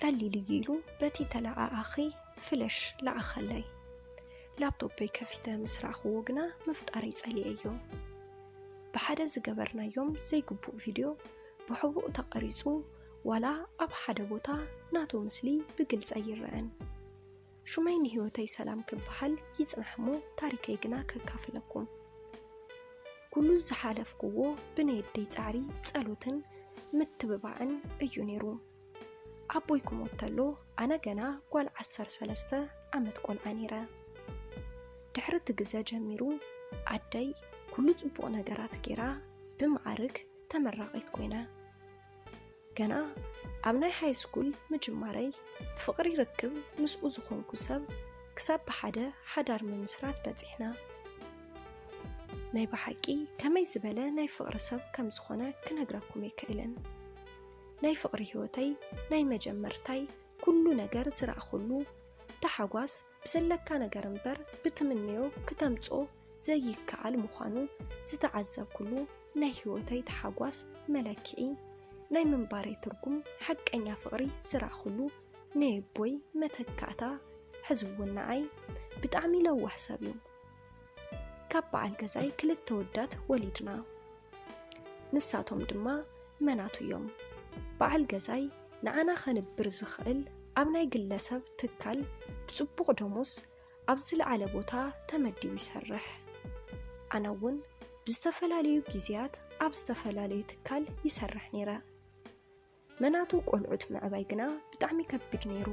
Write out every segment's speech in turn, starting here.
ቀሊል እዩ ኢሉ በቲ ተለኣኣኺ ፍለሽ ለኣኸለይ ላፕቶፐይ ከፊተ ምስ ረኣኽዎ ግና ምፍጣረይ ጸሊኤዮ ብሓደ ዝገበርናዮም ዘይግቡእ ቪድዮ ብሕቡእ ተቐሪጹ ዋላ ኣብ ሓደ ቦታ ናቱ ምስሊ ብግልጸ ይረአን ሹመይ ንህይወተይ ሰላም ክበሃል ይጽናሕ እሞ ታሪከይ ግና ከካፍለኩም። ኩሉ ዝሓለፍኩዎ ብናይ ኣደይ ጻዕሪ፣ ጸሎትን ምትብባዕን እዩ ነይሩ። ኣቦይ ክሞት ተሎ ኣነ ገና ጓል ዓሰርተ ሰለስተ ዓመት ቆልዓ ነይረ። ድሕሪ እቲ ግዘ ጀሚሩ ኣደይ ኩሉ ጽቡቕ ነገራት ገይራ ብመዓርግ ተመራቒት ኮይነ። ገና ኣብ ናይ ሃይስኩል ምጅማረይ ብፍቕሪ ርክብ ምስኡ ዝኾንኩ ሰብ ክሳብ ብሓደ ሓዳር ምምስራት በጺሕና። ናይ ብሓቂ ከመይ ዝበለ ናይ ፍቕሪ ሰብ ከም ዝኾነ ክነግረኩም ኣይክእልን። ናይ ፍቕሪ ህይወተይ ናይ መጀመርታይ ኩሉ ነገር ዝረኣኹሉ ታሓጓስ ብዘለካ ነገር እምበር ብትምነዮ ክተምጽኦ ዘይከኣል ምዃኑ ዝተዓዘብኩሉ ናይ ህይወተይ ተሓጓስ መለክዒ ናይ ምንባረይ ትርጉም ሓቀኛ ፍቕሪ ዝረኣኹሉ ነየቦይ መተካእታ ሕዝውን ንዓይ ብጣዕሚ ለዋህ ሰብ እዩ ካብ በዓል ገዛይ ክልተ ወዳት ወሊድና ንሳቶም ድማ መናቱ እዮም በዓል ገዛይ ንዓና ከንብር ዝኽእል ኣብ ናይ ግለሰብ ትካል ብፅቡቕ ደሞዝ ኣብ ዝለዓለ ቦታ ተመዲቡ ይሰርሕ ኣነ እውን ብዝተፈላለዩ ግዜያት ኣብ ዝተፈላለዩ ትካል ይሰርሕ ነይረ መናቱ ቆልዑት ምዕባይ ግና ብጣዕሚ ከቢድ ነይሩ።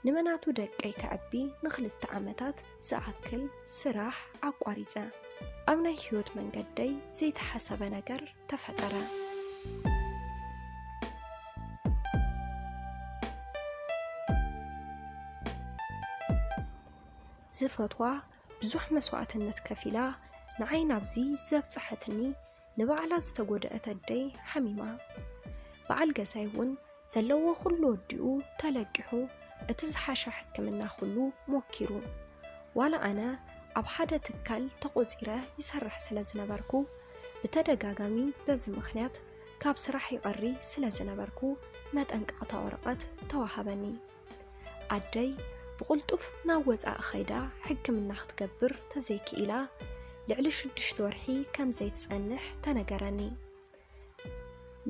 ንመናቱ ደቀይ ከዕቢ ንክልተ ዓመታት ዝኣክል ስራሕ ኣቋሪፀ። ኣብ ናይ ህይወት መንገደይ ዘይተሓሰበ ነገር ተፈጠረ። ዝፈትዋ ብዙሕ መስዋእትነት ከፊላ ንዓይ ናብዚ ዘብፀሐትኒ ንባዕላ ዝተጎድኣት ኣደይ ሓሚማ በዓል ገዛይ እውን ዘለዎ ኩሉ ወዲኡ ተለቂሑ እቲ ዝሓሸ ሕክምና ኩሉ ሞኪሩ ዋላ ኣነ ኣብ ሓደ ትካል ተቖፂረ ይሰርሕ ስለ ዝነበርኩ ብተደጋጋሚ በዚ ምኽንያት ካብ ስራሕ ይቐሪ ስለ ዝነበርኩ መጠንቀቕታ ወረቐት ተዋሃበኒ። ኣደይ ብቕልጡፍ ናብ ወጻኢ ኸይዳ ሕክምና ክትገብር ተዘይክኢላ ልዕሊ ሽዱሽተ ወርሒ ከም ዘይትጸንሕ ተነገረኒ።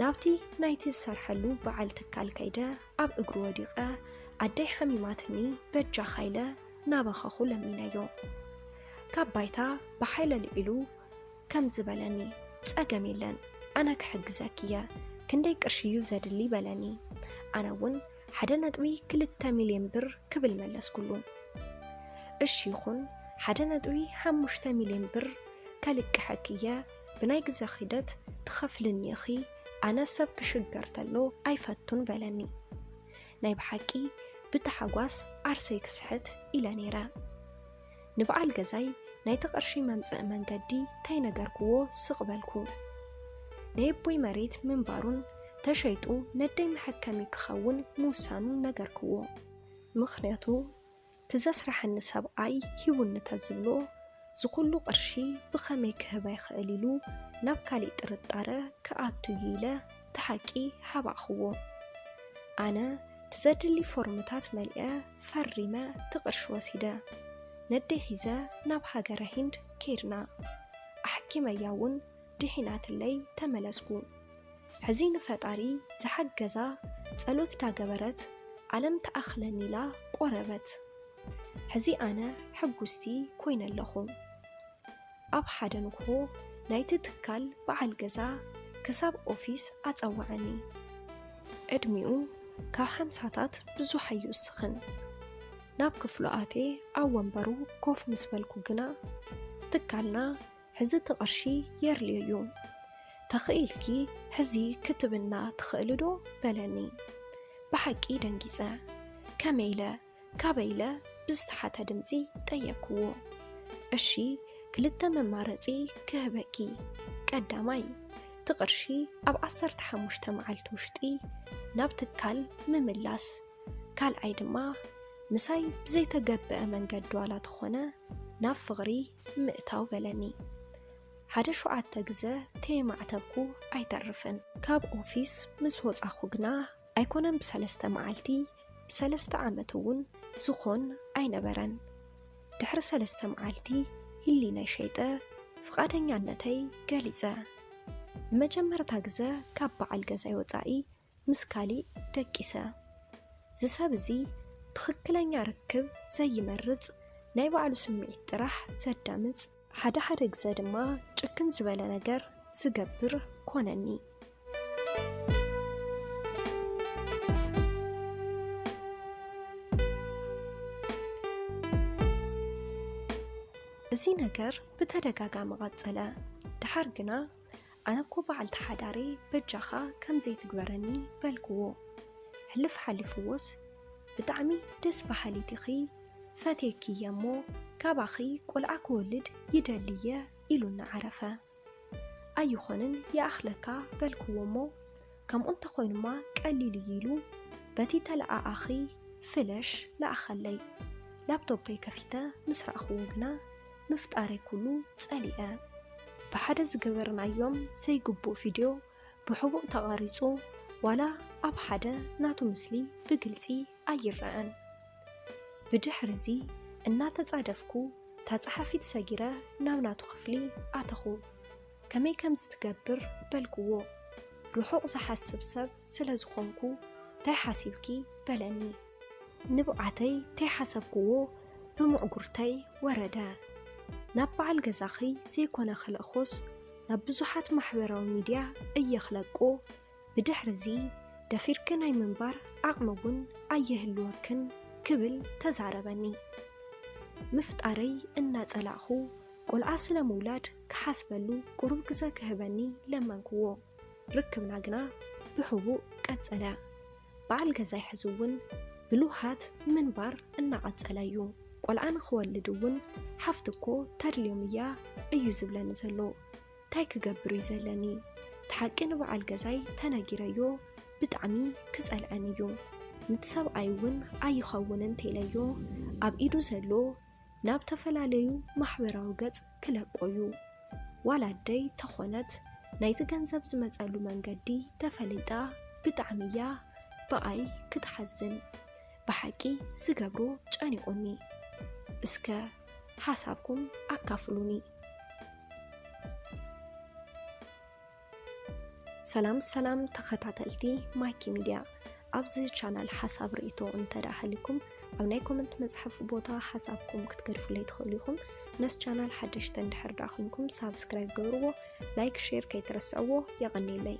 ናብቲ ናይቲ ዝሰርሐሉ በዓል ትካል ከይደ ኣብ እግሩ ወዲቐ ኣደይ ሓሚማትኒ በጃኻ ኢለ እናበኸኹ ለሚነዮ። ካብ ባይታ ብሓይሊ ኣልዒሉ ከምዚ በለኒ፣ ጸገም የለን ኣነ ክሕግዘኪ እየ ክንደይ ቅርሺ እዩ ዘድሊ በለኒ። ኣነ እውን ሓደ ነጥቢ ክልተ ሚልዮን ብር ክብል መለስኩሉ። እሺ ይኹን ሓደ ነጥቢ ሓሙሽተ ሚልዮን ብር ከልቅሐኪ እየ ብናይ ግዘ ኺደት ትኸፍልኒ ኢኺ ኣነ ሰብ ክሽገር ተሎ ኣይፈቱን በለኒ። ናይ ብሓቂ ብታሓጓስ ዓርሰይ ክስሕት ኢለ ነይረ። ንበዓል ገዛይ ናይቲ ቅርሺ መምጽኢ መንገዲ ተይነገርኩዎ ስቕ በልኩ። ናይ ኣቦይ መሬት ምንባሩን ተሸይጡ ነደይ መሐከሚ ክኸውን ምውሳኑን ነገርኩዎ። ምኽንያቱ እቲ ዘስረሐኒ ሰብኣይ ሂቡኒ ተዝብሎ ዝኹሉ ቅርሺ ብኸመይ ክህባ ይኽእል ኢሉ ናብ ካሊእ ጥርጣረ ክኣቱ እዩ ኢለ እቲ ሓቂ ሓባእክዎ። ኣነ እቲ ዘድሊ ፎርምታት መሊኣ ፈሪመ እቲ ቅርሺ ወሲደ ነደይ ሒዘ ናብ ሃገረ ሂንድ ከይድና። ኣሕኪመያ እውን ድሒናትለይ ተመለስኩ። ሕዚ ንፈጣሪ ዝሓገዛ ጸሎት ዳገበረት ዓለም ትኣኽለኒ ኢላ ቆረበት። ሕዚ ኣነ ሕጉስቲ ኮይነ ኣለኹ። ኣብ ሓደ ንግሆ ናይቲ ትካል በዓል ገዛ ክሳብ ኦፊስ ኣጸወዐኒ። ዕድሚኡ ካብ ሓምሳታት ብዙሕ ኣይውስኽን። ናብ ክፍሉ ኣትየ ኣብ ወንበሩ ኮፍ ምስ በልኩ ግና፣ ትካልና ሕዚ እቲ ቅርሺ የርልዮ እዩ። ተኽኢልኪ ሕዚ ክትብልና ትኽእሊዶ? በለኒ። ብሓቂ ደንጊጸ። ከመይ ኢለ? ካበይ ኢለ ብዝተሓተ ድምጺ ጠየቅኩዎ። እሺ ክልተ መማረጺ ክህበኪ ቀዳማይ እቲ ቅርሺ ኣብ ዓሰርተ ሓሙሽተ መዓልቲ ውሽጢ ናብ ትካል ምምላስ ካልኣይ ድማ ምሳይ ብዘይተገበአ መንገዲ ዋላ ተኾነ ናብ ፍቕሪ ምእታው በለኒ። ሓደ ሸውዓተ ግዘ ተየማዕተብኩ ኣይተርፍን። ካብ ኦፊስ ምስ ወጻኹ ግና ኣይኮነን ብሰለስተ መዓልቲ ብሰለስተ ዓመት እውን ዝኾን ኣይነበረን። ድሕሪ ሰለስተ መዓልቲ ህሊናይ ሸይጠ ፍቓደኛነተይ ገሊጸ። ንመጀመርታ ግዘ ካብ በዓል ገዛይ ወጻኢ ምስ ካሊእ ደቂሰ። እዚ ሰብ እዚ ትኽክለኛ ርክብ ዘይመርጽ ናይ ባዕሉ ስምዒት ጥራሕ ዘዳምጽ፣ ሓደ ሓደ ግዘ ድማ ጭክን ዝበለ ነገር ዝገብር ኮነኒ። እዚ ነገር ብተደጋጋሚ ቐፀለ። ደሓር ግና ኣነ እኮ በዓልቲ ሓዳረይ በጃኻ ከምዘይ ትግበረኒ በልክዎ ሕልፍ ሓሊፍዎስ ብጣዕሚ ደስ በሃሊት ኢኺ ፈትየኪ እየ እሞ ካባኺ ቆልዓ ክወልድ ይደሊ እየ ኢሉኒ ዓረፈ ኣይኾንን ይኣኽለካ በልክዎ እሞ ከምኡ እንተኾይኑማ ቀሊል እዩ ኢሉ በቲ ተለኣኣኺ ፍለሽ ለኣኸለይ ላፕቶፐይ ከፊተ ምስ ረኣኽዎ ግና ምፍጣረይ ኩሉ ጸሊኣ ብሓደ ዝገበርናዮም ዘይግቡእ ቪድዮ ብሕቡእ ተቐሪጹ ዋላ ኣብ ሓደ ናቱ ምስሊ ብግልጺ ኣይረኣን ብድሕሪዚ እናተጻደፍኩ እታ ጸሓፊት ሰጊረ ናብ ናቱ ክፍሊ ኣተኹ ከመይ ከምዚ ትገብር በልክዎ ርሑቕ ዝሓስብ ሰብ ስለ ዝኾንኩ እንታይ ሓሲብኪ በለኒ ንብዓተይ ተይሓሰብክዎ ብምዕጉርተይ ወረደ። ናብ በዓል ገዛኺ ዘይኮነ ክልእኮስ ናብ ብዙሓት ማሕበራዊ ሚድያ እየ ክለቆ፣ ብድሕሪ'ዚ ደፊርኪ ናይ ምንባር ዓቕሚ እውን ኣይህልወክን ክብል ተዛረበኒ። ምፍጣረይ እናጸላእኹ ቆልዓ ስለ ምውላድ ክሓስበሉ ቁሩብ ግዘ ክህበኒ ለመንክዎ። ርክብና ግና ብሕቡእ ቀጸለ። በዓል ገዛይ ሕዚ'ውን ብልውሃት ምንባር እናቐጸለ'ዩ። ቆልዓ ንኽወልድ'ውን ሓፍቲ'ኮ ተድልዮም'ያ እዩ ዝብለኒ ዘሎ። ታይ ክገብር'ዩ ዘለኒ? እቲ ሓቂ ንበዓል ገዛይ ተነጊረዮ ብጣዕሚ ክጸልኣኒ'ዩ። ንቲ ሰብኣይ'ውን ኣይኸውንን ተይለዮ ኣብ ኢዱ ዘሎ፣ ናብ ተፈላለዩ ማሕበራዊ ገጽ ክለቆዩ ዋላ ኣደይ ተኾነት ናይቲ ገንዘብ ዝመጸሉ መንገዲ ተፈሊጣ ብጣዕሚ እያ ብኣይ ክትሓዝን ብሓቂ ዝገብሮ ጨኒቁኒ እስከ ሓሳብኩም ኣካፍሉኒ። ሰላም ሰላም ተኸታተልቲ ማይኪ ሚድያ ኣብዚ ቻናል ሓሳብ ርእይቶ እንተደኣ ሃልዩኩም ኣብ ናይ ኮመንት መፅሓፍ ቦታ ሓሳብኩም ክትገድፉለይ ትኽእሉ ኢኹም ነስ ቻናል ሓደሽተ እንድሕር ደኣ ኮንኩም ሳብስክራይብ ገብርዎ ላይክ ሼር ከይትረስዕዎ የቐኒለይ